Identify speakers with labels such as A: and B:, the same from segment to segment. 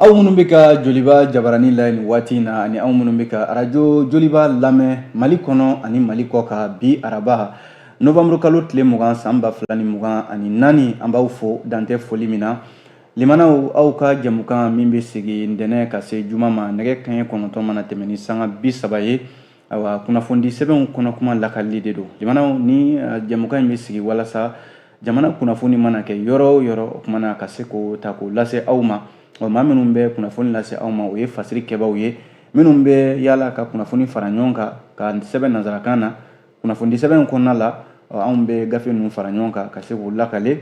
A: Aw minnu bɛ ka joliba jabaranin lajɛ nin waati in na ani aw minnu bɛ ka arajo joliba lamɛn mali kɔnɔ ani mali kɔkan bi araba nowanburukalo tile mugan san ba fila ni mugan ani naani an b'aw fo dantɛ foli min na Limanaw aw ka jɛmukan min bɛ sigi ntɛnɛn ka se juma ma nɛgɛ kanɲɛ kɔnɔntɔn mana tɛmɛ ni sanga bi saba ye ayiwa kunnafonidi sɛbɛnw kɔnɔ kuma lakalili de don limanaw nin eh, jɛmukan in bɛ sigi walasa jamana kunnafoni mana kɛ yɔrɔ o yɔrɔ o kuma na ka se k'o ta k'o lase aw ma ɔ maa minnu bɛ kunnafoni lase aw ma o ye fasiri kɛbaaw ye minnu bɛ yaala ka kunnafoni fara ɲɔgɔn kan k'a sɛbɛn nanzarakan na kunnafonidi sɛbɛn in kɔnɔna la ɔ anw bɛ gafe ninnu fara ɲɔgɔn kan ka se k'o lakali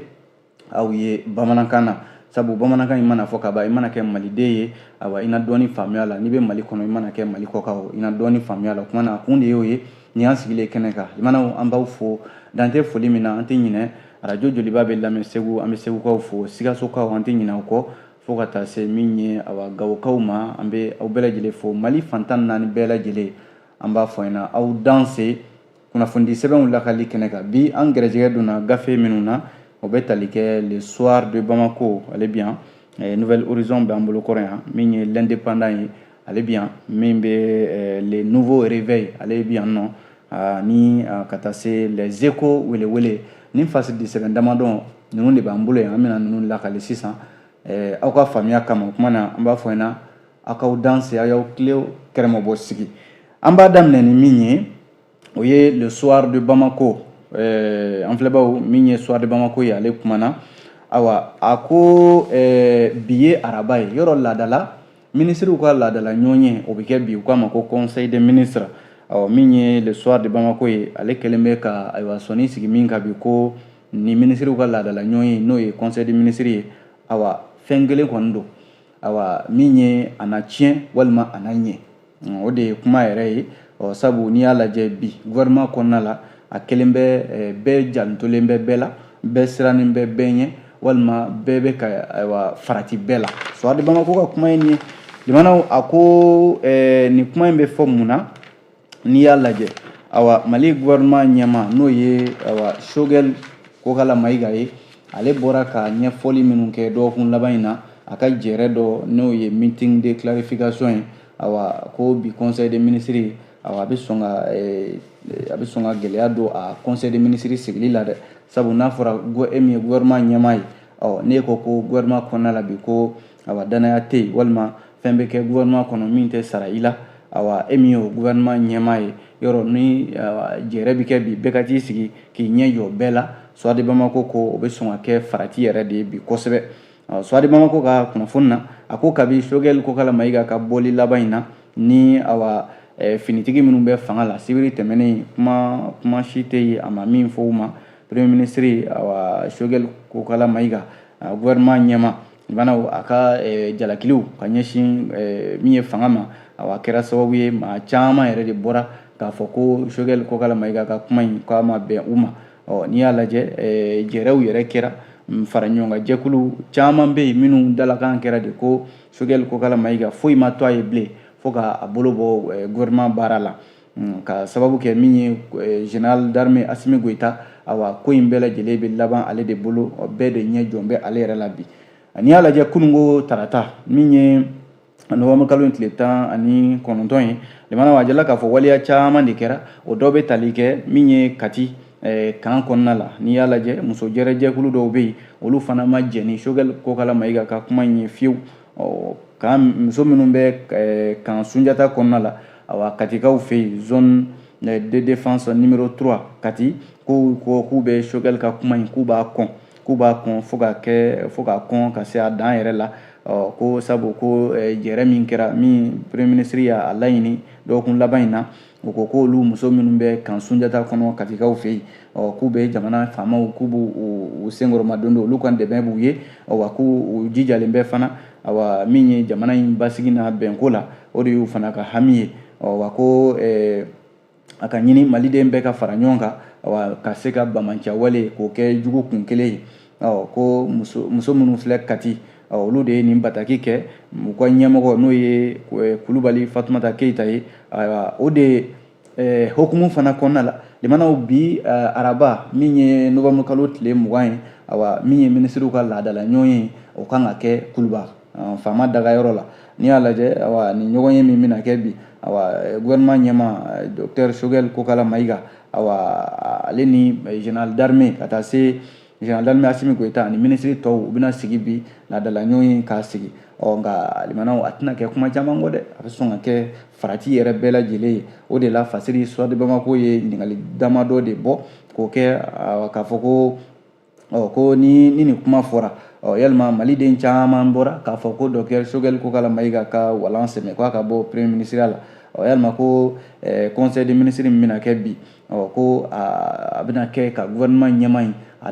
A: aw ye bamanankan na sabu bamanankan in mana fɔ ka ban i mana kɛ maliden ye awa i na dɔɔni faamuya la n'i bɛ mali kɔnɔ i mana kɛ mali kɔkan o i na dɔɔni faamuya la o kuma na a kun de y'o ye nin y'an sigilen kɛnɛ kan limanaw an b'aw fo dantɛ foli min na an tɛ ɲinɛ arajo joliba bɛ lamɛn segu an bɛ segukaw fo sikasokaw an tɛ ɲinɛ u kɔ fo ka taa se min ye awa gawokaw ma an bɛ aw bɛɛ lajɛlen fo mali fan tan naani bɛɛ lajɛlen an b'a fɔ ɲɛna aw danse kunnafoni sɛbɛnw lakali kɛnɛ kan bi an gɛrɛjɛgɛ donna gafe minnu na o bɛ tali kɛ le soir de bamako ale bi yan eh, nouvel horizon b'an bolo kɔrɔ yan min ye l'indépendant ye ale bi yan min bɛ eh, le nouveau réveil ale bi yan nɔ ah, ni ah, ka taa se les échos welewele ni fasidi sɛbɛn damadɔ ninnu de b'an bolo yan an bɛna ninnu lakali sisan eh, aw ka faamuya kama o kuma na an b'a fɔ ɲɛna aw k'aw danse aw y'aw tilew kɛrɛmabɔ sigi an b'a daminɛ ni min ye o ye le soir de bamako eh, an filɛbaaw min ye soir de bamako ye ale kumana awa a ko eh, bi ye araba ye yɔrɔ laadala minisiriw ka laadala ɲɔgɔnye o bɛ kɛ bi u k'a ma ko conseil des ministres awa min ye le soir de bamako ye ale kɛlen bɛ ka ayiwa sɔnin sigi min kan bi ko ni minisiriw ka laadala ɲɔgɔnye n'o ye conseil des ministres ye awa fɛn kelen kɔni don awa min ye a na tiɲɛ walima a na ɲɛ o de ye kuma yɛrɛ ye ɔ sabu n'i y'a lajɛ bi gouvernement kɔnɔna la a kɛlen bɛ eh, bɛɛ jantolen bɛ bɛɛ la bɛɛ sirannen bɛ bɛɛ ɲɛ walima bɛɛ bɛ ka ayiwa farati bɛɛ la soir de bamako ka kuma ye nin ye limanaw a ko eh, nin kuma in bɛ fɔ mun na n'i y'a lajɛ awa mali gouvernement ɲɛmaa n'o ye awa shogɛl kokala mayiga ye ale bɔra ka ɲɛfɔli minnu kɛ dɔgɔkun laban in na a ka jɛrɛ dɔ n'o ye meeting de clarification ye awa ko bi conseil des ministres awa a bɛ sɔn ka eh, a bɛ sɔn ka gɛlɛya don a conseil des ministres sigili la dɛ sabu n'a fɔra e min ye gouvernement ɲɛmaa ye ɔ n'e ko ko gouvernement kɔnɔna la bi ko awa danaya tɛ yen walima fɛn bɛ kɛ gouvernement kɔnɔ min tɛ sara i la awa e min y'o gouvernement ɲɛmaa ye yɔrɔ ni jɛrɛ bɛ kɛ bi bɛɛ ka t'i sigi k'i ɲɛ jɔ bɛɛ la Soir de Bamako ko o bɛ sɔn ka kɛ farati yɛrɛ de ye bi kosɛbɛ Soir de Bamako ka kunnafoni na a ko kabi Choguel Kokala Mayiga ka bɔli laban in na ni awa eh, finitigi minnu bɛ fanga la sibiri tɛmɛnen kuma kuma si tɛ yen a ma min fɔ u ma premier ministre awa Choguel Kokala Mayiga gouvernement ɲɛmaa lamɛnnaw a ka eh, jalakiliw ka ɲɛsin eh, min ye fanga ma awa a kɛra sababu ye maa caman yɛrɛ de bɔra k'a fɔ ko Choguel Kokala Mayiga ka kuma in k'a ma bɛn u ma ɔ n'i y'a lajɛ eh, jɛrɛw yɛrɛ kɛra mm, fara ɲɔgɔn kan jɛkulu caman bɛ yen minnu dalakan kɛra de ko Choguel Kokala Mayiga foyi ma to a ye bilen fo k'a bolo bɔ gouvernement baara la Hmm, ka sababu kɛ min ye eh, général d'armée Assimi Goïta awa ko in bɛɛ lajɛlen bɛ laban ale de bolo bɛɛ de ɲɛ jɔlen bɛ ale yɛrɛ la bi n'i y'a lajɛ kununko tarata min ye nowanburukalo in tile tan ani kɔnɔntɔn ye lamɛnnaw a jirala k'a fɔ waleya caman de kɛra o dɔ bɛ tali kɛ min ye kati eh, kan kɔnɔna la n'i y'a lajɛ muso jɛrɛjɛkulu dɔw bɛ yen olu fana ma jɛn ni Choguel Kokala Mayiga ka kuma in ye fiyewu ɔ kan muso minnu bɛ eh, kan sunjata kɔnɔna la awa katikaw fɛ yen zone eh, de défense numéro 3 kati k'u ko k'u bɛ Choguel ka kuma in k'u b'a kɔn k'u b'a kɔn fo ka kɛ fo ka kɔn ka se a dan yɛrɛ la ɔ ko sabu ko eh, jɛrɛ min kɛra min premier ministre y'a laɲini dɔgɔkun laban in na u ko ko olu muso minnu bɛ kan sunjata kɔnɔ katikaw fɛ yen k'u bɛ jamana faamaw k'u b'u senkɔrɔmadondon olu ka dɛmɛ b'u ye wa k'u jijalen bɛ fana awa min ye jamana in basigi n'a bɛnko la o de y'u fana ka hami ye wa ko a ka ɲini maliden bɛɛ ka fara ɲɔgɔn kan ka se ka banbaanciya wale k'o kɛ jugu kun kelen ye ko muso minnu filɛ kati olu de ye nin bataki kɛ u ka ɲɛmɔgɔ n'o ye kulubali fatumata keyita ye o de hukumu fana kɔnɔna la lamɛnnaw bi araba min ye nowanburukalo tile mugan ye awa min ye minisiriw ka laadala ɲɔgɔnye o kan ka kɛ kuluba faama dagayɔrɔ la n'i y'a lajɛ awa nin ɲɔgɔnye min bɛna kɛ bi awa gouvernement ɲɛmaa docteur Choguel Kokala Mayiga awa ale ni général d'armée ka taa se général d'armée Assimi Goïta ani minisiri tɔw u bɛna sigi bi laadala ɲɔgɔnye k'a sigi ɔ nka lamɛnnaw a tɛna kɛ kuma caman kɔ dɛ a bɛ sɔn ka kɛ farati yɛrɛ bɛɛ lajɛlen ye o de la Fasiri Soir de Bamako ye ɲininkali damadɔ de bɔ k'o kɛ k'a fɔ ko ɔ ko ni ni nin kuma fɔra ɔ yalima maliden caman bɔra k'a fɔ ko docteur Choguel Kokalla Maïga ka walan sɛmɛ k'a ka bɔ premier ministre la ɔ yalima ko eh, conseil des ministres min bɛna kɛ bi ɔ ko a bɛna kɛ ka gouvernement ɲɛmaa in a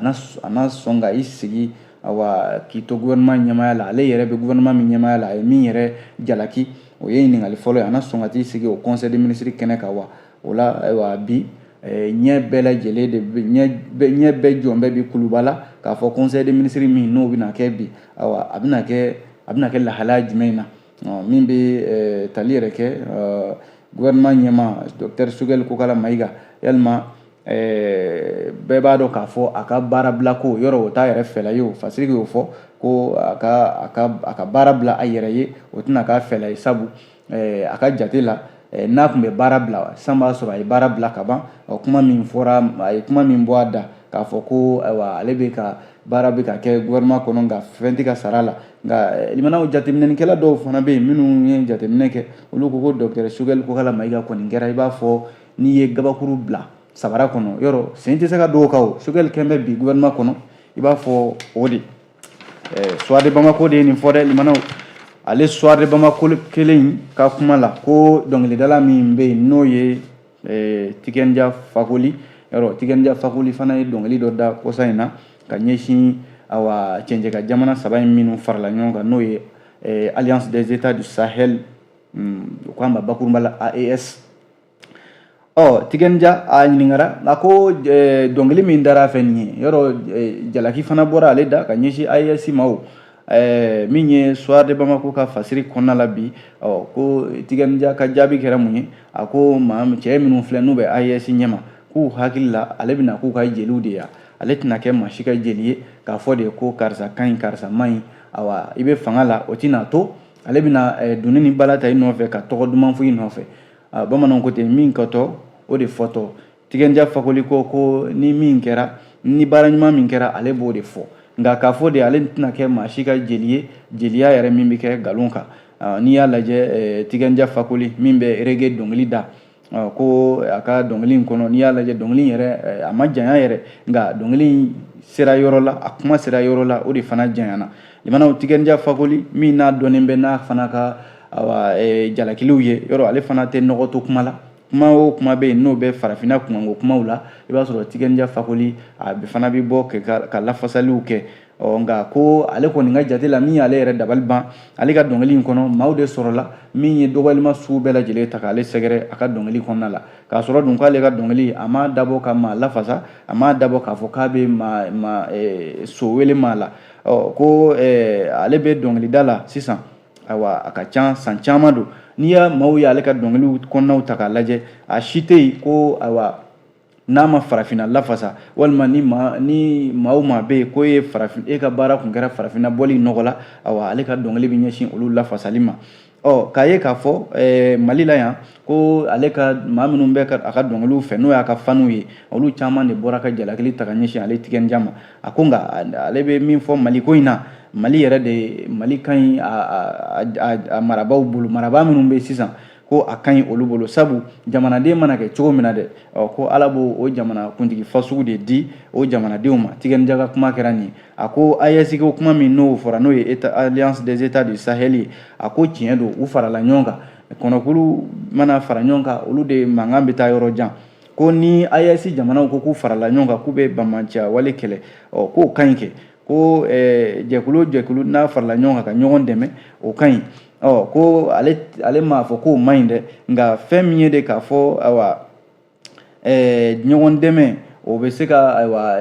A: na sɔn ka i sigi awa k'i to gouvernement ɲɛmaya la ale yɛrɛ bɛ gouvernement min ɲɛmaya la a ye min yɛrɛ jalaki o ye ɲininkali fɔlɔ ye a na sɔn ka t'i sigi o conseil des ministres kɛnɛ kan wa o la ayiwa bi eh, ɲɛ bɛɛ lajɛlen de bɛ ɲɛ bɛɛ jɔn bɛ bi kuluba la k'a fɔ conseil des ministres min n'o bɛna kɛ bi ayiwa a bɛna kɛ a bɛna kɛ lahalaya jumɛn na min bɛ eh, tali yɛrɛ kɛ eh, gouvernement ɲɛmaa docteur Choguel Kokalla Maïga yalima Eh, bɛɛ b'a dɔn k'a fɔ a ka baara bila ko yɔrɔ o t'a yɛrɛ fɛla ye o fasiri y'o fɔ ko a ka a ka a ka baara bila a yɛrɛ ye o tɛna k'a fɛla ye sabu Eh, a ka jate la eh, n'a tun bɛ baara bila san b'a sɔrɔ a ye baara bila ka ban kuma min fɔra a ye kuma min bɔ a da k'a fɔ ko ayiwa ale bɛ ka baara bɛ ka kɛ gouvernement kɔnɔ nka fɛn tɛ ka sar'a la nka eh, limanaw jateminɛnikɛla dɔw fana bɛ yen minnu ye jateminɛ kɛ olu ko ko docteur Choguel Kokalla Maïga kɔni kɛra i b'a fɔ n'i ye gabakuru bila sabara kɔnɔ yɔrɔ sen tɛ se ka don o kan o Choguel kɛn bɛ bi gouvernement kɔnɔ i b'a fɔ o de eh, Soir de Bamako de ye nin fɔ dɛ limanaw ale Soir de Bamako kelen in ka kuma la ko dɔnkilidala min bɛ yen n'o ye eh, Tiken Jah Fakoly yɔrɔ Tiken Jah Fakoly fana ye dɔnkili dɔ da kɔsa in na ka ɲɛsin awa cɛncɛn kan jamana saba in minnu farala ɲɔgɔn kan n'o ye eh, alliance des états du sahel hmm, u k'a ma bakurunba la AES ɔ Tiken Jah a ɲininkara a ko dɔnkili min dara fɛ nin ye yɔrɔ jalaki fana bɔra ale da ka ɲɛsin AES ma o min ye Soir de Bamako ka fasiri kɔnɔna la bi ɔ ko Tiken Jah ka jaabi kɛra mun ye a ko maa cɛ minnu filɛ n'u bɛ AES ɲɛma k'u hakili la ale bɛna k'u ka jeliw de ye ale tɛna kɛ maa si ka jeli ye k'a fɔ de ko karisa ka ɲi karisa man ɲi awa i bɛ fanga la o tɛna to ale bɛna dunun ni bala ta i nɔfɛ ka tɔgɔ duman fɔ i nɔfɛ a bamananw ko ten min kɛtɔ o de fɔtɔ Tiken Jah Fakoly ko ko ni min kɛra ni baara ɲuman min kɛra ale b'o de fɔ nka k'a fɔ de ale tɛna kɛ maa si ka jeli ye jeliya yɛrɛ min bɛ kɛ nkalon kan n'i y'a lajɛ Tiken Jah Fakoly min bɛ reggae dɔnkili da ko a ka dɔnkili in kɔnɔ n'i y'a lajɛ dɔnkili in yɛrɛ a ma janya yɛrɛ nka dɔnkili in sera yɔrɔ la a kuma sera yɔrɔ la o de fana janyana limanaw Tiken Jah Fakoly min n'a dɔnnen bɛ n'a fana ka awa eh, jalakiliw ye yɔrɔ ale fana tɛ nɔgɔ to kuma la kuma o kuma bɛ yen n'o bɛ farafinna kunkanko kumaw la i b'a sɔrɔ tiken jah fakoly a fana bɛ bɔ ka lafasaliw kɛ ɔ nka ko ale kɔni ka jate la min y'ale yɛrɛ dabali ban ale ka dɔnkili in kɔnɔ maaw de sɔrɔla min ye dɔgɔyalima sugu bɛɛ lajɛlen ta k'ale sɛgɛrɛ a ka dɔnkili kɔnɔna la k'a sɔrɔ dun k'ale ka dɔnkili a m'a dabɔ ka maa lafasa a m'a dabɔ k'a fɔ k'a bɛ maa maa eh, so wele maa la ɔ ko eh, ale bɛ dɔnkilida la sisan ayiwa a ka ca san caman don n'i y'a maaw y'ale ka dɔnkiliw kɔnɔnaw ta k'a lajɛ a si tɛ yen ko ayiwa n'a ma farafinna lafasa walima ni maa ni maa o maa bɛ yen ko e farafin e ka baara kun kɛra farafinna bɔli nɔgɔ la awa ale ka dɔnkili bɛ ɲɛsin olu lafasali ma ɔ k'a ye k'a fɔ ɛɛ mali la yan ko ale ka maa minnu bɛ a ka dɔnkiliw fɛ n'o y'a ka faniw ye olu caman de bɔra ka jalakili ta ka ɲɛsin ale tiken jah ma a ko nka ale bɛ min fɔ mali ko in na mali yɛrɛ de mali ka ɲi a marabaaw bolo marabaa minnu bɛ sisan ko a ka ɲi olu bolo sabu jamanaden mana kɛ cogo min na dɛ ɔ ko ala b'o o jamana kuntigi fasugu de di o jamanadenw ma tiken jah ka kuma kɛra nin ye a ko AES ko kuma min n'o fɔra n'o ye alliance des états du sahel ye a ko tiɲɛ don u farala ɲɔgɔn kan kɔnɔkulu mana fara ɲɔgɔn kan olu de mankan bɛ taa yɔrɔ jan ko ni AES jamanaw ko k'u farala ɲɔgɔn kan k'u bɛ banbaanciya wale kɛlɛ ɔ k'o ka ɲi kɛ ko eh, jɛkulu o jɛkulu n'a farala ɲɔgɔn kan ka ɲɔgɔn dɛmɛ o ka ɲi ɔ ko ale ale m'a fɔ k'o man ɲi dɛ nka fɛn min ye de k'a fɔ awa ɛɛ ɲɔgɔn dɛmɛ o bɛ se ka ayiwa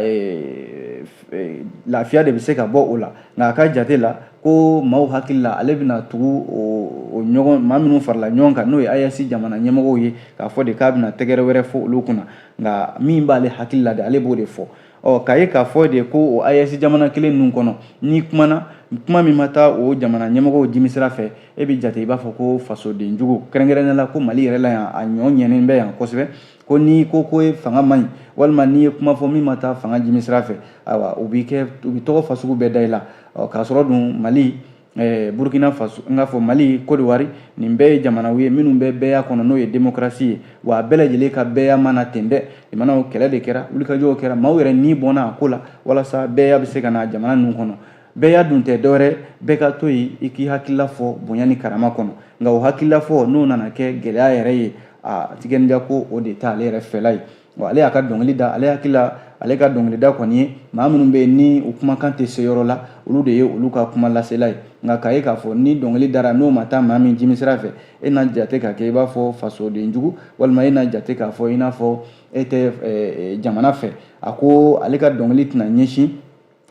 A: lafiya de bɛ se ka bɔ o la nka a ka jate la ko maaw hakili la ale bɛna tugu o ɲɔgɔn maa minnu farala ɲɔgɔn kan n'o ye AES jamana ɲɛmɔgɔw ye k'a fɔ de k'a bɛna tɛgɛrɛ wɛrɛ fɔ olu kunna nka min b'ale hakili la de ale b'o de fɔ ɔ k'a ye k'a fɔ de ko o AES jamana kelen ninnu kɔnɔ n'i kumana kuma min ma taa o jamana ɲɛmɔgɔw jimisira fɛ e bɛ jate i b'a fɔ ko fasoden jugu kɛrɛnkɛrɛnnen la ko mali yɛrɛ la yan a ɲɔgɔn yelen bɛ yan kosɛbɛ ko n'i ko ko ye fanga man ɲi walima n'i ye kuma fɔ min ma taa fanga jimisira fɛ ayiwa u b'i kɛ u bɛ tɔgɔ fasugu bɛɛ da i la ɔ k'a sɔrɔ dun mali Eh, burkina faso n k'a fɔ mali kodiwari nin bɛɛ ye jamanaw ye minnu bɛ bɛɛya kɔnɔ n'o ye demokarasi ye wa a bɛɛ lajɛlen ka bɛɛya ma na ten dɛ jamanaw kɛlɛ de kɛra wulikajɔw kɛra maaw yɛrɛ ni bɔnna a ko la walasa bɛɛya bɛ se ka na jamana ninnu kɔnɔ bɛɛya dun tɛ dɔwɛrɛ bɛɛ ka to yen i k'i hakilila fɔ bonya ni karama kɔnɔ nka o hakilila fɔ n'o nana kɛ gɛlɛya yɛrɛ ye a tiken jah ko o de t'ale yɛrɛ fɛla ye wa ale y'a ka dɔnkili da ale hakili la ale ka dɔnkilida kɔni ye maa minnu bɛ yen ni u kumakan tɛ se yɔrɔ la olu de ye olu ka kuma lasela ye nka k'a ye k'a fɔ ni dɔnkili dara n'o ma taa maa min jimisira fɛ e na jate ka kɛ i b'a fɔ fasoden jugu walima e na jate k'a fɔ i n'a fɔ e tɛ jamana fɛ a ko ale ka dɔnkili tɛna ɲɛsin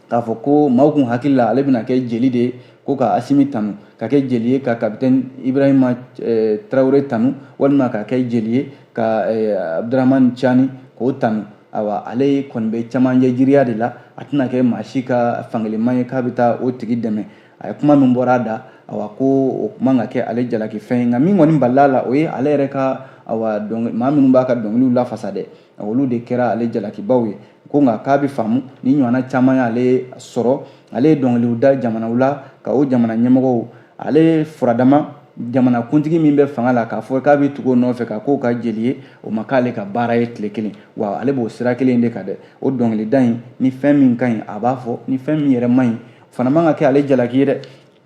A: k'a fɔ ko maaw kun hakili la ale bɛna kɛ jeli de ye ko ka asimi tanu ka kɛ jeli ye ka kapitɛni ibrahima eh, tarawele tanu walima ka kɛ jeli ye ka eh, abdurahmani cani k'o tanu awa ale kɔni bɛ camancɛ jiriya de la a tɛna kɛ maa si ka fankelenma ye k'a bɛ taa o tigi dɛmɛ a ye kuma min bɔra a da awa ko o kuma ka kɛ ale jalaki fɛn ye nka min kɔni balila a la o ye ale yɛrɛ ka awa maa minnu b'a ka dɔnkiliw lafasa dɛ olu de kɛra ale jalakibaw ye ko nka k'a bɛ faamu ni ɲɔgɔnna caman y'ale sɔrɔ ale ye dɔnkiliw da jamanaw la ka o jamana ɲɛmɔgɔw ale furadama jamana kuntigi min bɛ fanga la k'a fɔ k'a bɛ tugu o nɔfɛ ka k'o ka jeli ye o ma k'ale ka baara ye tile kelen wa ale b'o sira kelen de kan dɛ o dɔnkilida in ni fɛn min ka ɲi a b'a fɔ ni fɛn min yɛrɛ man ɲi o fana man ka kɛ ale jalaki ye dɛ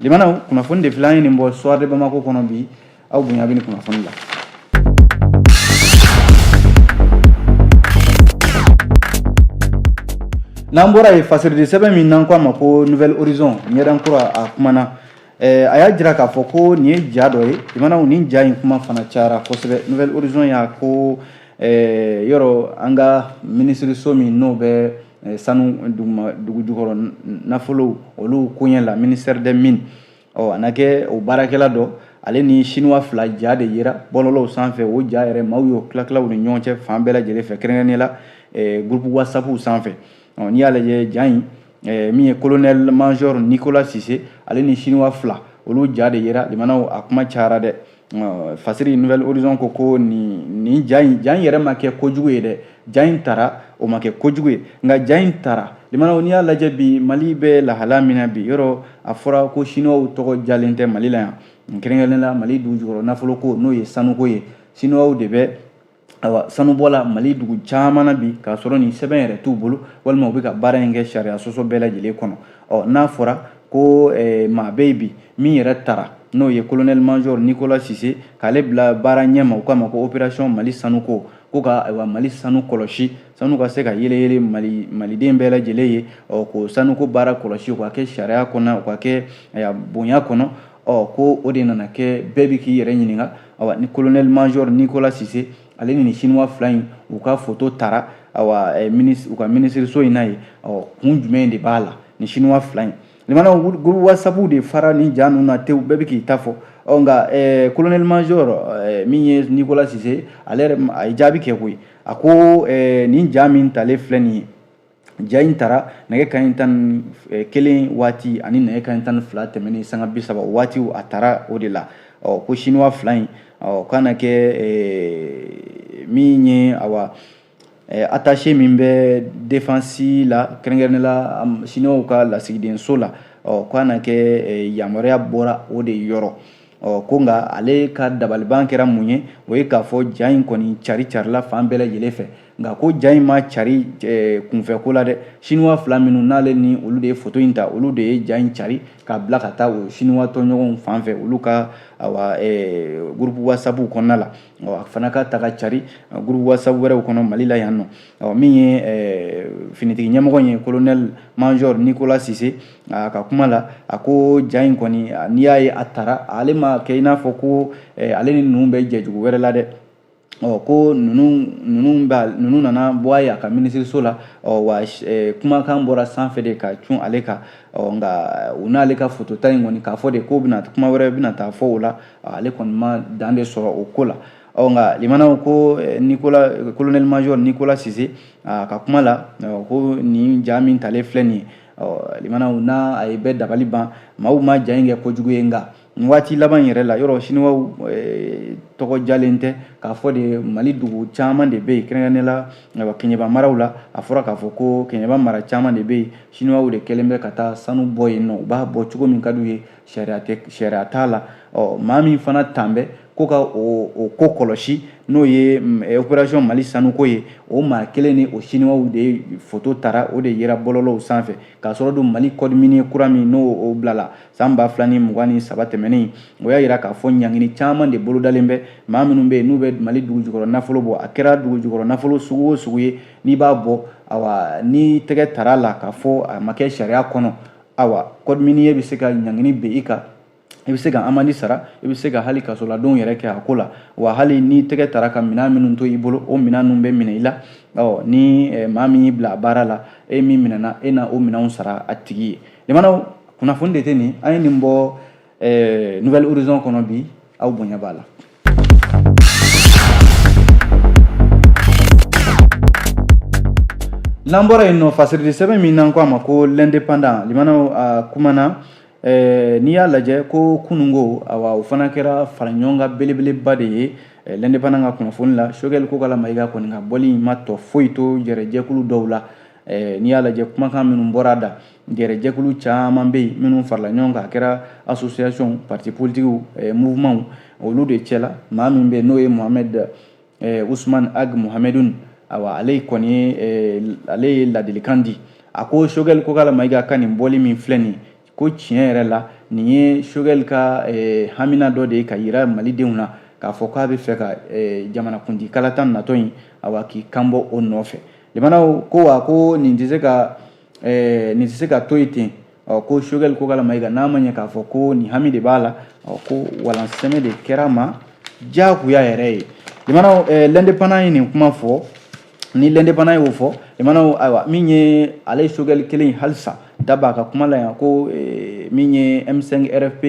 A: limanaw kunnafoni de filɛ an ye nin bɔ soir de bamako kɔnɔ bi aw bonya bɛ nin kunnafoni la n'an bɔra yen fasiridi sɛbɛn min n'an ko a ma ko nouvel horizon ɲɛdan kura a kumana eh, a y'a jira k'a fɔ ko nin ye ja dɔ ye limanaw nin ja in kuma fana cayara kosɛbɛ nouvel horizon y'a ko eh, yɔrɔ an ka minisiriso min n'o bɛ eh, sanu dugu jukɔrɔ nafolow olu koɲɛ la ministère des mines ɔ a na kɛ o baarakɛla dɔ ale ni sinuwa fila ja de yera bɔlɔlɔw sanfɛ o ja yɛrɛ maaw y'o tilatila u ni ɲɔgɔn cɛ fan bɛɛ lajɛlen fɛ kɛrɛnkɛrɛnnen la eh, groupe whatsapp sanfɛ ɔ n'i y'a lajɛ ja in eh, min ye colonel major nicolas sise ale ni sinuwa fila olu ja de yera limanaw a kuma cayara dɛ fasiri nouvel horizon ko ko nin nin ja in ja in yɛrɛ ma kɛ kojugu ye dɛ ja in tara o ma kɛ kojugu ye nka ja in tara limanaw n'i y'a lajɛ bi mali bɛ lahala min na bi yɔrɔ a fɔra ko siniwaw tɔgɔ diyalen tɛ mali la yan kɛrɛnkɛrɛnnen la mali dugu jukɔrɔ nafoloko n'o ye sanuko ye siniwaw de bɛ ayiwa sanubɔ la mali dugu caman na bi k'a sɔrɔ nin sɛbɛn yɛrɛ t'u bolo walima u bɛ ka baara in kɛ sariya sɔsɔ bɛɛ lajɛlen kɔnɔ ɔ n'a fɔra ko eh, maa bɛ yen bi min yɛrɛ tara n'o ye kolonɛli major nicolas sise k'ale bila baara ɲɛma u k'a ma ko operasiyɔn mali sanuko ko ka ayiwa mali sanu kɔlɔsi sanu ka se ka yeleyele mali maliden bɛɛ lajɛlen ye ɔ k'o sanuko baara kɔlɔsi o ka kɛ sariya kɔnɔ o ka kɛ bonya kɔnɔ ɔ ko o de nana kɛ bɛɛ bɛ k'i yɛrɛ ɲininka awa ni colonel major nicolas sise ale ni nin chinois fila in u ka foto tara awa eh, u ka minisiriso in na yen ɔ kun jumɛn de b'a la ni chinois fila in limanaw groupe whatsapp de fara ni ja ninnu na tewu bɛɛ bɛ k'i ta fɔ ɔ nka eh, colonel major eh, min ye nicolas sise ale yɛrɛ a ye jaabi kɛ koyi a ko eh, nin ja min talen filɛ nin ye ja in tara nɛgɛ kanɲɛ tan ni kelen waati ani nɛgɛ kanɲɛ tan ni fila tɛmɛnen sanga bi saba waatiw a tara o de la ɔ ko siniwa fila in ɔ k'a na kɛ min ye awa atase min bɛ defansi la kɛrɛnkɛrɛn la siniwaw ka lasigidenso la ɔ k'a na kɛ yamaruya bɔra o de yɔrɔ ɔ ko nka ale ka dabaliban kɛra mun ye o ye k'a fɔ ja in kɔni caricarila fan bɛɛ lajɛlen fɛ nka ko ja in ma cari eh, kunfɛko la dɛ siniwa fila minnu n'ale ni olu de ye foto in ta olu de ye ja in cari k'a bila ka taa o siniwa tɔɲɔgɔnw fan fɛ olu ka awa eh, gurupu wasapu kɔnɔna la a fana ka taa ka cari gurupu wasapu wɛrɛw kɔnɔ mali la yan nɔ min ye eh, finitigi ɲɛmɔgɔ ye kolonɛli majɔr nikola sise a ka kuma la a ko ja in kɔni n'i y'a ye a tara ale ma kɛ i n'a fɔ ko eh, ale ni ninnu bɛ jɛ jugu wɛrɛ la dɛ ɔ ko ninnu ninnu b'a ninnu nana bɔ a ye a ka minisiriso la ɔ wa eh, kumakan bɔra sanfɛ de ka cun ale kan ɔ nka u n'ale ka fotota in kɔni k'a fɔ de k'o bɛna kuma wɛrɛ bɛna taa fɔ o la ale kɔni ma dan de sɔrɔ o ko la ɔ nka limanaw ko eh, nikola kolonɛli majɔri nikola sise a ka kuma la ko nin ja min talen filɛ nin ye limanaw n'a ye bɛɛ dabali ban maaw ma ja in kɛ kojugu ye nka nin waati laban yɛrɛ la yɔrɔ siniwaw eh, tɔgɔ jalen tɛ k'a fɔ de mali dugu caman de bɛ yen kɛrɛnkɛrɛnnen la eh, kɛɲɛba maraw la a fɔra k'a fɔ ko kɛɲɛba mara caman de bɛ yen siniwaw de kɛlen bɛ ka taa sanu bɔ yen nɔ u b'a bɔ cogo min ka d'u ye sariya tɛ sariya t'a la ɔ maa min fana tan bɛ ko ka o o ko kɔlɔsi n'o ye mm, eh, opération mali sanuko ye o maa kelen ni o siniwaw de foto tara o de yera bɔlɔlɔw sanfɛ k'a sɔrɔ don mali code minier kura min n'o o bilala san ba fila ni mugan ni saba tɛmɛnen o y'a yira k'a fɔ ɲangini caman de bolodalen bɛ maa minnu bɛ yen n'u bɛ mali dugujukɔrɔ nafolo bɔ a kɛra dugujukɔrɔ nafolo sugu o sugu ye n'i b'a bɔ awa n'i tɛgɛ tara a la k'a fɔ a ma kɛ sariya kɔnɔ awa code minier bɛ se ka ɲangini bin i kan i bɛ se ka amandi sara i bɛ se ka hali kasoladenw yɛrɛ kɛ a ko la wa hali n'i tɛgɛ tara ka minɛn minnu to i bolo o minɛn ninnu bɛ minɛ i la ɔ ni eh, maa min y'i bila a baara la e min minɛna e na o minɛnw sara a tigi ye limanaw kunnafoni de tɛ nin an ye nin bɔ Eh, nouvel horizon kɔnɔ bi aw bonya b'a la n'an bɔra yen nɔ fasirili sɛbɛn min n'an ko a ma ko l'indépendant limanaw a kumana eh, n'i y'a lajɛ ko kunun ko awa o fana kɛra faraɲɔgɔnkan belebeleba de ye eh, l'indépendant ka kunnafoni la sogɛli kokala mayiga kɔni ka bɔli in ma tɔ foyi to yɛrɛ jɛkulu dɔw la Eh, n'i y'a lajɛ kumakan minnu bɔra da jɛrɛjɛkulu caman bɛ yen minnu farala ɲɔgɔn kan a kɛra association parti politiques eh, mouvement olu de cɛla maa min bɛ n'o ye mohamed eh, ousmane ag mohamedoun awa ale kɔni ye ale ye ladilikan di a ko sogɛli kokala mayiga ka nin bɔli min filɛ nin ko tiɲɛ yɛrɛ la nin ye sogɛli ka eh, hamina dɔ de ye ka yira malidenw na k'a fɔ k'a bɛ fɛ ka eh, jamanakuntigi kalata natɔ in awa k'i kanbɔ o nɔfɛ limanaw ko wa ko nin tɛ se ka eh, nin tɛ se ka to yen ten ɔ ko sogɛli kokala mayiga n'a ma ɲɛ k'a fɔ ko nin hami de b'a la ɔ ko walansɛmɛ de kɛr'a ma diyagoya yɛrɛ ye limanaw eh, l'indépendant ye nin kuma fɔ ni l'indépendant y'o fɔ limanaw ayiwa min ye ale ye sogɛli kelen ye halisa da b'a ka kuma la yan ko eh, min ye m5 rfp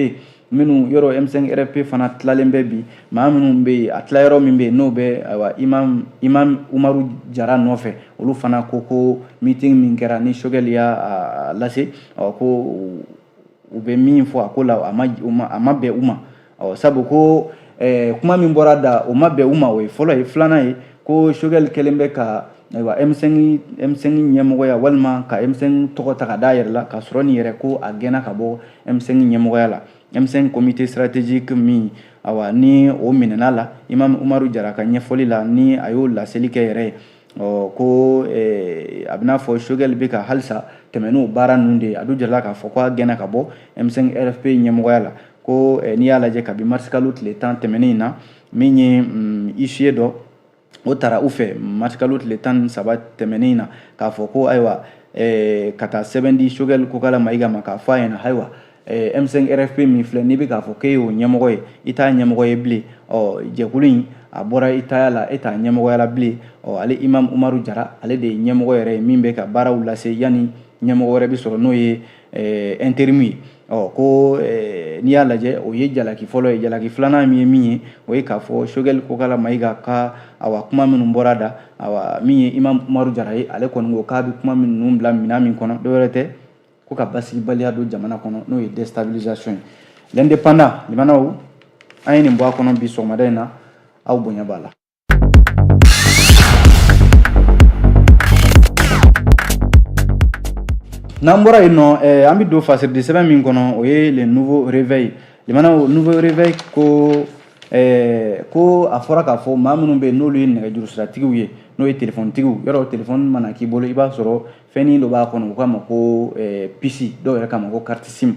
A: minnu yɔrɔ m5 rfp fana tilalen bɛ bi maa minnu bɛ yen a tila yɔrɔ min bɛ yen n'o bɛ ayiwa imam imam umaru jara nɔfɛ olu fana ko ko meeting min kɛra ni sogɛli y'a lase ɔ ko u bɛ min fɔ a ko la a ma a ma bɛn u ma ɔ sabu ko eh, kuma min bɔra da o ma bɛn u ma o ye fɔlɔ ye filanan ye ko sogɛli kɛlen bɛ ka ayiwa m5 m5 ɲɛmɔgɔya walima ka m5 tɔgɔ ta ka d'a yɛrɛ la k'a sɔrɔ nin yɛrɛ ko a gɛnna ka bɔ m5 ɲɛmɔgɔya la m5 comité stratégique min awa ni o minɛna la imam umaru jara ka ɲɛfɔli la ni a y'o laseli kɛ yɛrɛ ye ɔ ko eh, a b'i n'a fɔ sogɛli bɛ ka halisa tɛmɛ n'o baara ninnu de ye a dun jirala k'a fɔ ko a gɛnna ka bɔ m5 rfp ɲɛmɔgɔya la ko eh, n'i y'a lajɛ kabi marisikalo tile tan tɛmɛnen in na min ye mm, huissier dɔ o taara u fɛ marisikalo tile tan ni saba tɛmɛnen in na k'a fɔ ko ayiwa eh, ka taa sɛbɛn di sogɛli kokala mayiga ma k'a fɔ a ɲɛ na ayiwa M5 RFP min filɛ n'i bɛ k'a fɔ k'e y'o ɲɛmɔgɔ ye i t'a ɲɛmɔgɔ ye bilen ɔ jɛkulu in a bɔra i taya la e t'a ɲɛmɔgɔya la bilen ɔ ale Imam Umaru Jara ale de ye ɲɛmɔgɔ yɛrɛ ye min bɛ ka baaraw lase yanni ɲɛmɔgɔ wɛrɛ bɛ sɔrɔ n'o ye intérim ye ɔ ko n'i y'a lajɛ o ye jalaki fɔlɔ ye jalaki filanan min ye min ye o ye k'a fɔ Choguel Kokala Mayiga ka awa kuma minnu bɔra a da awa min ye Imam Umaru Jara ye ale kɔni ko k'a bɛ kuma minnu bila minɛn min kɔnɔ dɔwɛrɛ tɛ ko ka basigibaliya don jamana kɔnɔ n'o ye déstabilisation ye l'indépendant limanaw an ye nin bɔ a kɔnɔ bi sɔgɔmada in na aw bonya b'a la n'an bɔra yen nɔ eh, an bɛ don fasirili sɛbɛn min kɔnɔ o ye le nouveau réveil limanaw nouveau réveil ko eh, ko a fɔra k'a fɔ maa minnu bɛ yen n'olu ye nɛgɛjuru siratigiw ye n'o ye telefɔnitigiw yɔrɔ telefɔni mana k'i bolo i b'a sɔrɔ fɛnnin dɔ b'a kɔnɔ u k'a ma ko eh, pisi dɔw yɛrɛ k'a ma ko carte sim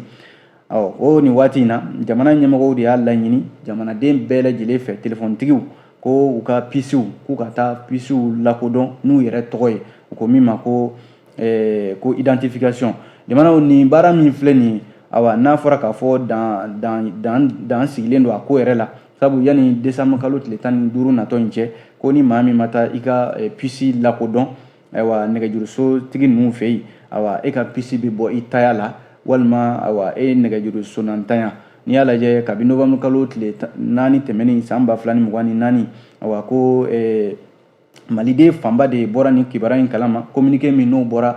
A: ɔ o nin waati in na jamana ɲɛmɔgɔw de y'a laɲini jamanaden bɛɛ lajɛlen fɛ telefɔnitigiw ko u ka pisiw k'u ka taa pisiw lakodɔn n'u yɛrɛ tɔgɔ ye u ko min ma ko eh, ko identification jamanaw nin baara min filɛ nin ye awa n'a fɔra k'a fɔ dan dan dan dan sigilen don a ko yɛrɛ la sabu yanni desanburu kalo tile tan ni duuru natɔ in cɛ ko ni maa min ma taa i ka eh, pisi lakodɔn ayiwa nɛgɛjurusotigi ninnu fɛ yen ayiwa e ka pisi bɛ bɔ i taya la walima ayiwa e ye nɛgɛjurusonantanya n'i y'a lajɛ kabi novembre kalo tile naani tɛmɛnen san ba fila ni mugan ni naani ayiwa ko eh, maliden fanba de bɔra nin kibaruya in kalama communiqué min n'o bɔra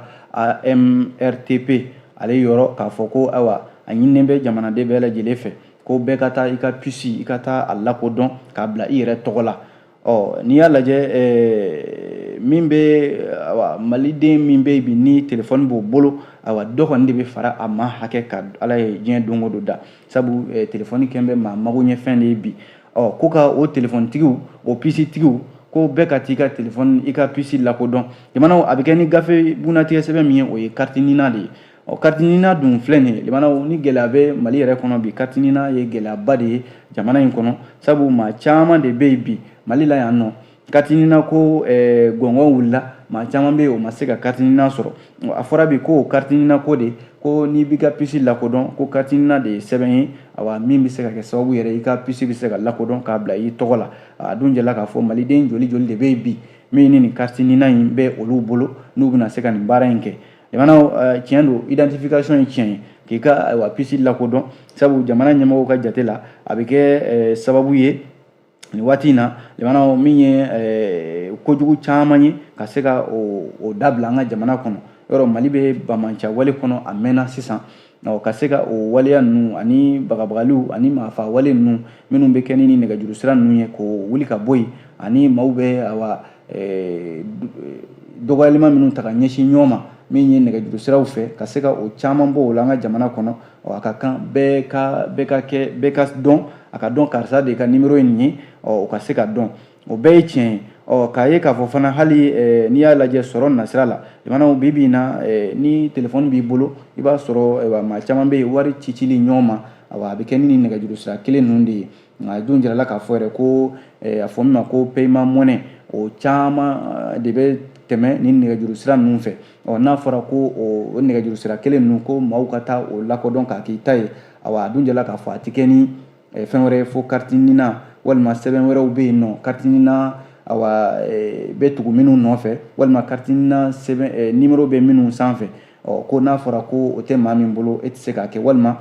A: amrtp ale yɔrɔ k'a fɔ ko ayiwa a ɲininen bɛ jamanaden bɛɛ lajɛlen fɛ ko bɛɛ ka taa i ka pisi i ka taa a lakodɔn k'a bila i yɛrɛ tɔgɔ la ɔ n'i y'a lajɛ eh, min bɛ awa maliden min bɛ bi ni telefɔni b'o bolo awa dɔ kɔni de bɛ fara a maa hakɛ kan ala ye diɲɛ don o don da sabu eh, telefɔni kɛn bɛ maa mago ɲɛ fɛn de ye bi ɔ ko ka o telefɔnitigiw o pisitigiw ko bɛɛ ka t'i ka telefɔni i ka pisi lakodɔn limanaw a bɛ kɛ ni gafe bunnatigɛ sɛbɛn min ye o ye carte nina de ye ɔ carte nina dun filɛ nin ye limanaw ni gɛlɛya bɛ mali yɛrɛ kɔnɔ bi carte nina ye gɛlɛyaba de ye jamana in kɔnɔ sabu maa caman de bɛ yen bi mali la yan nɔ carte nina ko eh, gɔngɔn wulila maa caman bɛ yen o ma se ka carte nina sɔrɔ a fɔra bi ko o carte nina ko de ko n'i b'i ka pisi lakodɔn ko carte nina de ye sɛbɛn ye awa min bɛ se ka kɛ sababu yɛrɛ i ka pisi bɛ se ka lakodɔn k'a bila i tɔgɔ la a dun jɛla k'a fɔ maliden joli joli de bɛ yen bi min ni nin carte nina in bɛ olu bolo n'u bɛna se ka nin baara in kɛ limanaw tiɲɛ don identification ye tiɲɛ ye k'i ka ayiwa pisi lakodɔn sabu jamana ɲɛmɔgɔw ka jate la a bɛ kɛ sababu ye nin waati in na limanaw min ye kojugu caman ye ka se ka o dabila an ka jamana kɔnɔ yɔrɔ mali bɛ banbaanciya wale kɔnɔ a mɛnna sisan ɔ ka se ka o waleya ninnu ani bagabagaliw ani maafa wale ninnu minnu bɛ kɛ ni ni nɛgɛjuru sira ninnu ye k'o wuli ka bɔ yen ani maaw bɛ awa eh, dɔgɔyalima minnu ta ka ɲɛsin ɲɔgɔn ma min ye nɛgɛjuru siraw fɛ ka se ka o caman bɔ o la an ka jamana kɔnɔ ɔ a ka kan bɛɛ ka bɛɛ ka kɛ bɛɛ ka dɔn a ka dɔn karisa de ka nimero ye nin ye ɔ o ka se ka dɔn O bɛɛ ye tiɲɛ ye ɔ k'a ye k'a fɔ fana hali eh, n'i y'a lajɛ sɔrɔ nasira la limanaw bi bi in na eh, ni telefɔni b'i bolo i b'a sɔrɔ eh, maa caman bɛ yen wari cicili ɲɔgɔn ma awa a bɛ kɛ ni nɛgɛjuru sira kelen ninnu de ye nk'a dun jirala k'a fɔ yɛrɛ ko a fɔ min ma ko paiement monnaie o caman de bɛ tɛmɛ ni nɛgɛjuru sira ninnu fɛ ɔ n'a fɔra ko o nɛgɛjuru sira kelen ninnu ko maaw ka taa o lakodɔn k'a k'i ta ye awa a dun jirala k'a fɔ a tɛ kɛ ni fɛn wɛrɛ ye fo karitinina walima sɛbɛn wɛrɛw bɛ yen n'o karitinina awa bɛ tugu minnu nɔfɛ walima karitinina sɛbɛn nimero bɛ minnu sanfɛ ɔ ko n'a fɔra ko o tɛ maa min bolo e tɛ se k'a kɛ walima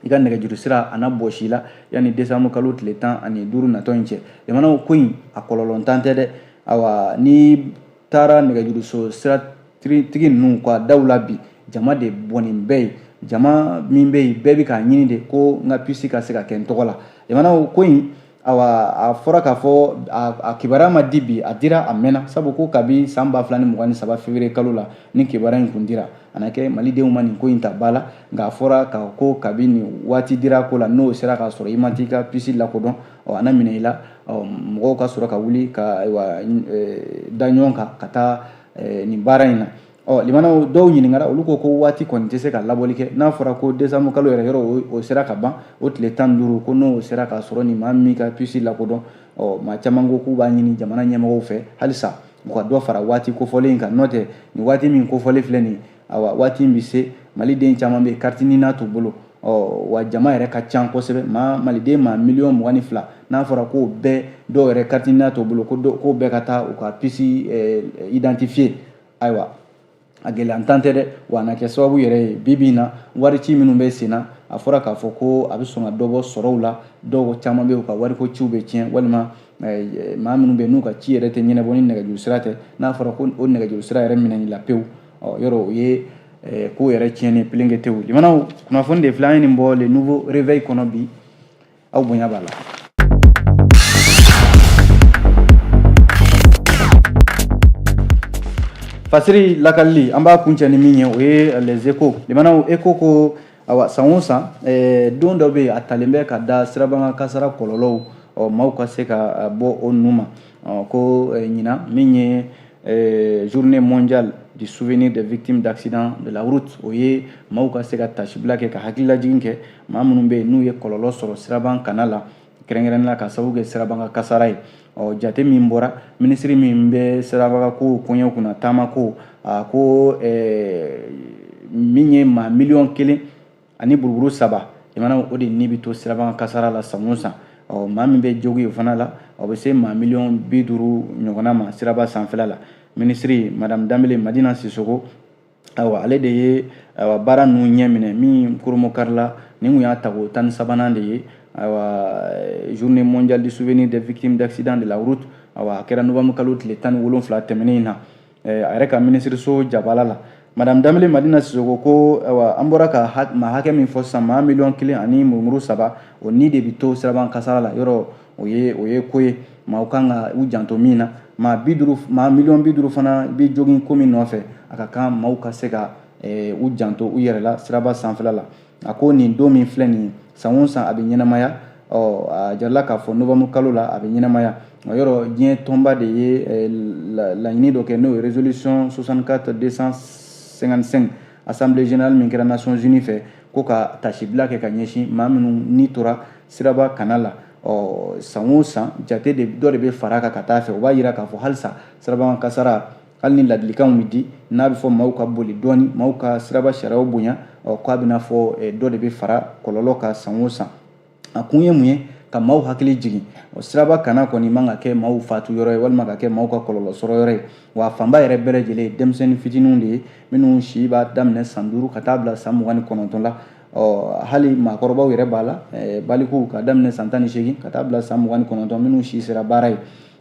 A: i ka nɛgɛjuru sira a na bɔsi i la yanni desanbu kalo tile tan ani duuru natɔ in cɛ limanaw ko in a kɔlɔlɔntan tɛ dɛ awa ni taara nɛgɛjuruso siratigi ninnu ka daw la bi jama de bɔnnen bɛ yen jama min bɛ yen bɛɛ bɛ k'a ɲini de ko n ka pisi ka se ka kɛ n tɔgɔ la limanaw ko in awa a fɔra k'a fɔ a kibaruya ma di bi a dira a mɛnna sabu ko kabi san ba fila ni mugan ni saba février kalo la ni kibaruya in tun dira a na kɛ malidenw ma nin ko in ta ba la nka a fɔra ka ko kabi nin waati dira ko la n'o sera k'a sɔrɔ i ma t'i ka pisi lakodɔn ɔ a na minɛ i la ɔ mɔgɔw ka sɔrɔ ka wuli ka ayiwa da ɲɔgɔn kan ka taa nin baara in na ɔ limanaw dɔw ɲininkara olu ko ko waati kɔni tɛ se ka laboli kɛ n'a fɔra ko desanbu kalo yɛrɛ yɔrɔ o sera ka ban o tile tan ni duuru ko n'o sera k'a sɔrɔ ni maa min ka pisi lakodɔn ɔ maa caman ko k'u b'a ɲini jamana ɲɛmɔgɔw fɛ halisa u ka dɔ fara waati kofɔlen in kan n'o tɛ nin waati min kofɔlen filɛ nin ye awa waati in bɛ se maliden caman bɛ karitinina t'u bolo ɔ wa jama yɛrɛ ka ca kosɛbɛ maa maliden maa miliyɔn mugan ni fila n'a fɔra k'o bɛɛ dɔw yɛrɛ karitinina t'u bolo ko k'o bɛɛ ka taa u ka pisi eh, identifier ayiwa a gɛlɛyantan tɛ dɛ wa a na kɛ sababu yɛrɛ ye bi bi in na wari ci minnu bɛ sen na a fɔra k'a fɔ ko a bɛ sɔn ka dɔ bɔ sɔrɔw la dɔw caman bɛ yen u ka wariko ciw bɛ tiɲɛ walima eh, maa minnu bɛ yen n'u ka ci yɛrɛ tɛ ɲɛnabɔ ni nɛgɛjuru sira tɛ n'a fɔra ko o nɛgɛjuru sira yɛrɛ minɛna i la pewu ɔ yɔrɔ o ye eh, ko yɛrɛ tiɲɛni pelenkete ye limanaw kunnafoni de filɛ an ye nin bɔ le nouveau réveil kɔnɔ bi aw bonya b'a la fasiri lakalili an b'a kuncɛ ni min ye o ye les échos limanaw écho ko Awa san o san don dɔ bɛ yen a talen bɛ ka da sirabakan kasara kɔlɔlɔw ɔ maaw ka se ka bɔ o nun ma ko ɲinan min ye journée mondiale du souvenir des victimes d'accident de la route o ye maaw ka se ka tasibila kɛ ka hakililajigin kɛ maa minnu bɛ yen n'u ye kɔlɔlɔ sɔrɔ siraba kanna la kɛrɛnkɛrɛnnenya ka sababu kɛ sirabakan kasara ye ɔ jate min bɔra minisiri min bɛ sirabakan kow koɲɛ kunna taama kow a ko min ye maa miliyɔn kelen ani buruburu saba limanaw o de ni bɛ to sirabakan kasara la san o san ɔ maa min bɛ jogin o fana la o bɛ se maa miliyɔn bi duuru ɲɔgɔnna ma siraba sanfɛla la minisiri madamu danbele madina sisoko ayiwa ale de ye ayiwa baara ninnu ɲɛ minɛ min koromo karila nin tun y'a tago tan ni sabanan de ye ayiwa journée mondiale du souvenir des victimes d'accident de la route ayiwa a kɛra novembre kalo tile tan ni wolonfila tɛmɛnen in na a yɛrɛ ka minisiriso jabala la madame danbele madina sisoko ko ayiwa an bɔra ka maa hakɛ min fɔ sisan maa miliyɔn kelen ani murumuru saba o ni de bɛ to siraba kasara la yɔrɔ o ye o ye ko ye maaw kan ka u janto min na maa bi duuru maa miliyɔn bi duuru fana bɛ jogin ko min nɔfɛ a ka kan maaw ka se ka eh, u janto u yɛrɛ la siraba sanfɛla la a ko nin don min filɛ nin ye san o san a bɛ ɲɛnamaya ɔ a jirala k'a fɔ novembre kalo la a bɛ ɲɛnamaya yɔrɔ diɲɛ tɔnba de ye eh, laɲini dɔ kɛ n'o ye résolution 64 255 assemblée générale min kɛra nations unies fɛ ko ka taasibila kɛ ka ɲɛsin maa minnu ni tora siraba kanna la ɔ san o san jate de dɔ de bɛ fara kan ka taa fɛ o b'a jira k'a fɔ halisa siraba kasara hali ni ladilikanw bɛ di n'a bɛ fɔ maaw ka boli dɔɔni maaw ka siraba sariyaw bonya ɔ k'a bɛna fɔ eh, dɔ de bɛ fara kɔlɔlɔ kan san o san a kun ye mun ye ka maaw hakili jigin o siraba kanna kɔni man ka kɛ maaw fatu yɔrɔ ye walima ka kɛ maaw ka kɔlɔlɔ sɔrɔ yɔrɔ ye wa fanba yɛrɛ bɛɛ lajɛlen ye denmisɛnnin fitininw de ye minnu si b'a daminɛ san duuru ka taa bila san mugan ni kɔnɔntɔn la ɔ hali maakɔrɔbaw yɛrɛ b'a la balikuw k'a daminɛ san tan ni seegin ka taa bila san mugan ni kɔnɔntɔn minnu si sera baara ye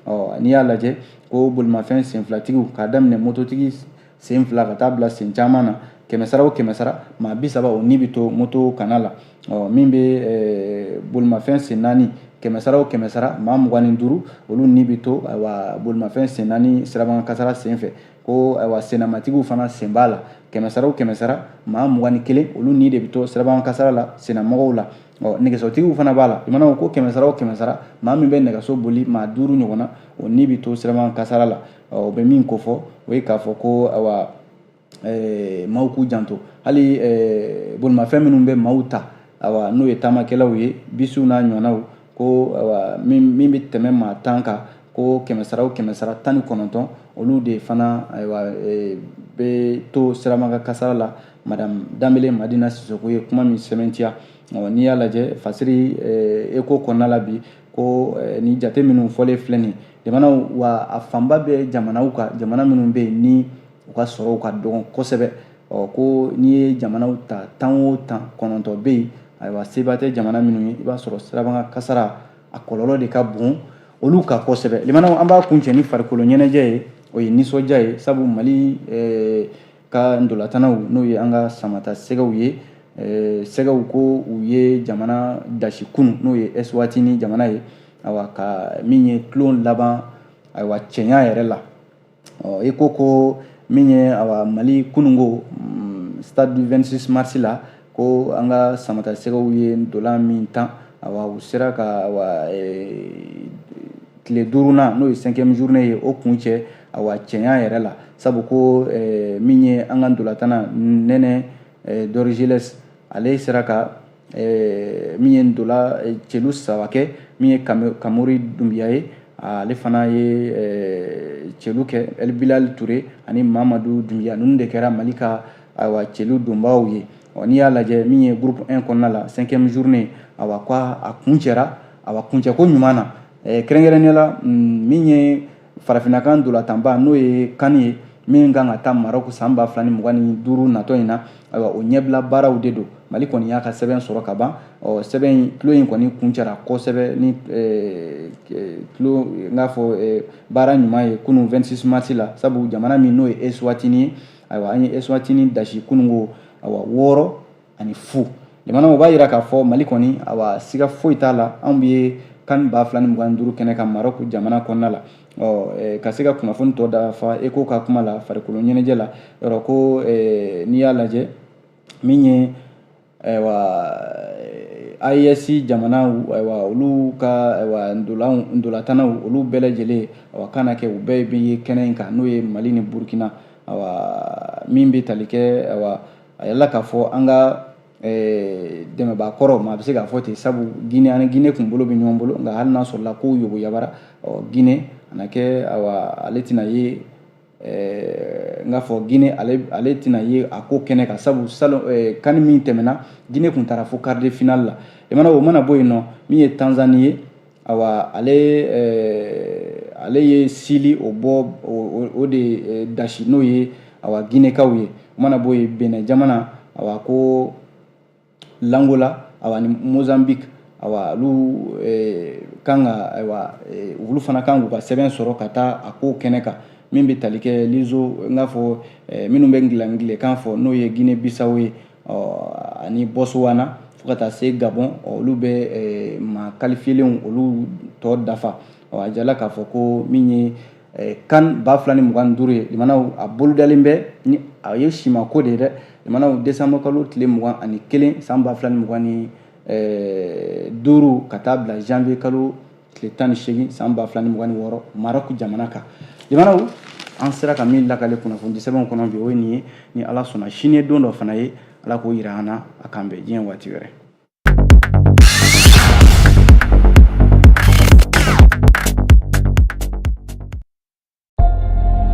A: ɔ n'i y'a lajɛ ko bolimafɛn senfilatigiw k'a daminɛ mototigi sen fila ka taa bila sen caman na kɛmɛsara o kɛmɛsara maa bi saba o ni bɛ to moto kanna la ɔ min bɛ bolimafɛn sen naani kɛmɛsara o kɛmɛsara maa mugan ni duuru olu ni bɛ to wa bolimafɛn sen naani siraba kasara sen fɛ ko ayiwa sennamatigiw fana sen b'a la kɛmɛsara o kɛmɛsara maa mugan ni kelen olu ni de bɛ to sirabakan kasara la sennamɔgɔw la ɔ nɛgɛsotigiw fana b'a la i mana ko kɛmɛsara o kɛmɛsara maa min bɛ nɛgɛso boli maa duuru ɲɔgɔnna o ni bɛ to sirabakan kasara la ɔ o bɛ min kofɔ o ye k'a fɔ ko ayiwa ɛɛ maaw k'u janto hali ɛɛ bolimafɛn minnu bɛ maaw ta ayiwa n'o ye taamakɛlaw ye bisiw n'a ɲɔgɔnnaw ko min bɛ tɛmɛ maa tan kan ko kɛmɛsara o kɛmɛsara tan ni kɔnɔntɔn olu de fana ayiwa e, bɛ to sirabakan kasara la madame danbele madina sisoko ye kuma min sɛmɛntiya n'i y'a lajɛ fasiri e, eko kɔnɔna la bi ko e, ni jate minnu fɔlen filɛ nin jamanaw wa a fanba bɛ jamanaw kan jamana minnu bɛ yen ni u ka sɔrɔw ka dɔgɔn kosɛbɛ ɔ ko n'i ye jamanaw ta tan o tan kɔnɔntɔn bɛ yen ayiwa seba tɛ jamana minnu ye i b'a sɔrɔ sirabakan kasara a kɔlɔlɔ de ka bon olu kan kosɛbɛ lamɛnnaw an b'a kuncɛ ni farikolo ɲɛnajɛ ye o ye nisɔndiya ye sabu mali eh, ka ntolatannaw n'o ye an ka samatasɛgɛw ye eh, sɛgɛw ko u ye jamana dasi kunu n'o ye eswatini jamana ye awa ka min ye tulon laban ayiwa cɛɲa yɛrɛ la ɔ i ko ko min ye awa mali kununko mm, stade du 26 mars la ko an ka samatasɛgɛw ye ntola min tan awa u sera ka awa e, tile duurunan n'o ye cinquième journée ye o kun cɛ awa cɛɲa yɛrɛ la sabu ko e, min ye an ka ntolatanna nɛnɛ e, dorgeles ale sera ka min ye ntola celu saba kɛ min ye kamori dunbiya ye ale fana ye celu kɛ el bilali ture ani mamadu dunbiya ninnu de kɛra mali ka ayiwa celu donbaaw ye ɔ n'i y'a lajɛ min ye groupe 1 kɔnɔna la cinquième journée awa ko a kun cɛra awa kuncɛko ɲuman na kɛrɛnkɛrɛnnenya la min ye farafina ka ntolatanba n'o ye CAN ye min kan ka taa marɔku san ba fila ni mugan ni duuru natɔ in na ayiwa o ɲɛbila baaraw de don mali kɔni y'a ka sɛbɛn sɔrɔ ka ban ɔ sɛbɛn in tulon in kɔni kun cɛra kosɛbɛ ni tulon n k'a fɔ baara ɲuman ye kunun 26 mars la sabu jamana min n'o ye eswatini ye ayiwa an ye eswatini dasi kununko ayiwa wɔɔrɔ ani fu jamana o b'a jira k'a fɔ mali kɔni awa siga foyi t'a la anw bɛ CAN ba fila ni mugan duuru kɛnɛ kan marɔk jamana kɔnɔna la ɔ ka se ka kunnafoni tɔ dafa eko ka kuma la farikolo ɲɛnajɛ la yɔrɔ ko n'i y'a lajɛ min ye ayiwa AES jamanaw ayiwa olu ka ayiwa ndolanw ndolatannaw olu bɛɛ lajɛlen awa k'a na kɛ u bɛɛ bɛ ye kɛnɛ in kan n'o ye mali ni burukina awa min bɛ tali kɛ awa a jirala k'a fɔ an ka eh, dɛmɛbaa kɔrɔ maa bɛ se k'a fɔ ten sabu gine ani gine kun bolo bɛ ɲɔgɔn bolo nka hali n'a sɔrɔla kow yogo yabara gine a na kɛ awa ale tɛna ye eh, n k'a fɔ gine ale ale tɛna ye a ko kɛnɛ kan sabu salon eh, CAN min tɛmɛna gine kun taara fo quart de finale la i mana o mana bɔ yen nɔ min ye tanzani ye awa ale ale ye sili o bɔ o de dasi n'o ye awa ginekaw ye o mana bɔ yen benɛn jamana awa ko l'angola awa ni mozambique awa olu kan ka ayiwa olu fana kan k'u ka sɛbɛn sɔrɔ ka taa a ko kɛnɛ kan min bɛ tali kɛ lizo n k'a fɔ minnu bɛ angilɛkan fɔ n'o ye guinée bissau ye ani botswana fo ka taa se gabɔn olu bɛ eh, maa kalifiyelenw olu tɔ dafa a jirala k'a fɔ ko min ye eh, CAN ba fila ni mugan ni duuru ye limanaw a bolodalen bɛ ni a ye simako de ye dɛ limanaw desanbɔ kalo tile mugan ani kelen san ba fila ni mugan ni eh, duuru ka taa bila janvier kalo tile tan ni seegin san ba fila ni mugan ni wɔɔrɔ marɔku jamana kan jamanaw an sera ka min lakale kunnafoni sɛbɛnw kɔnɔ bi o ye nin ye ni ala sɔnna sini ye don dɔ fana ye ala k'o yira an na a kan bɛn diɲɛ waati wɛrɛ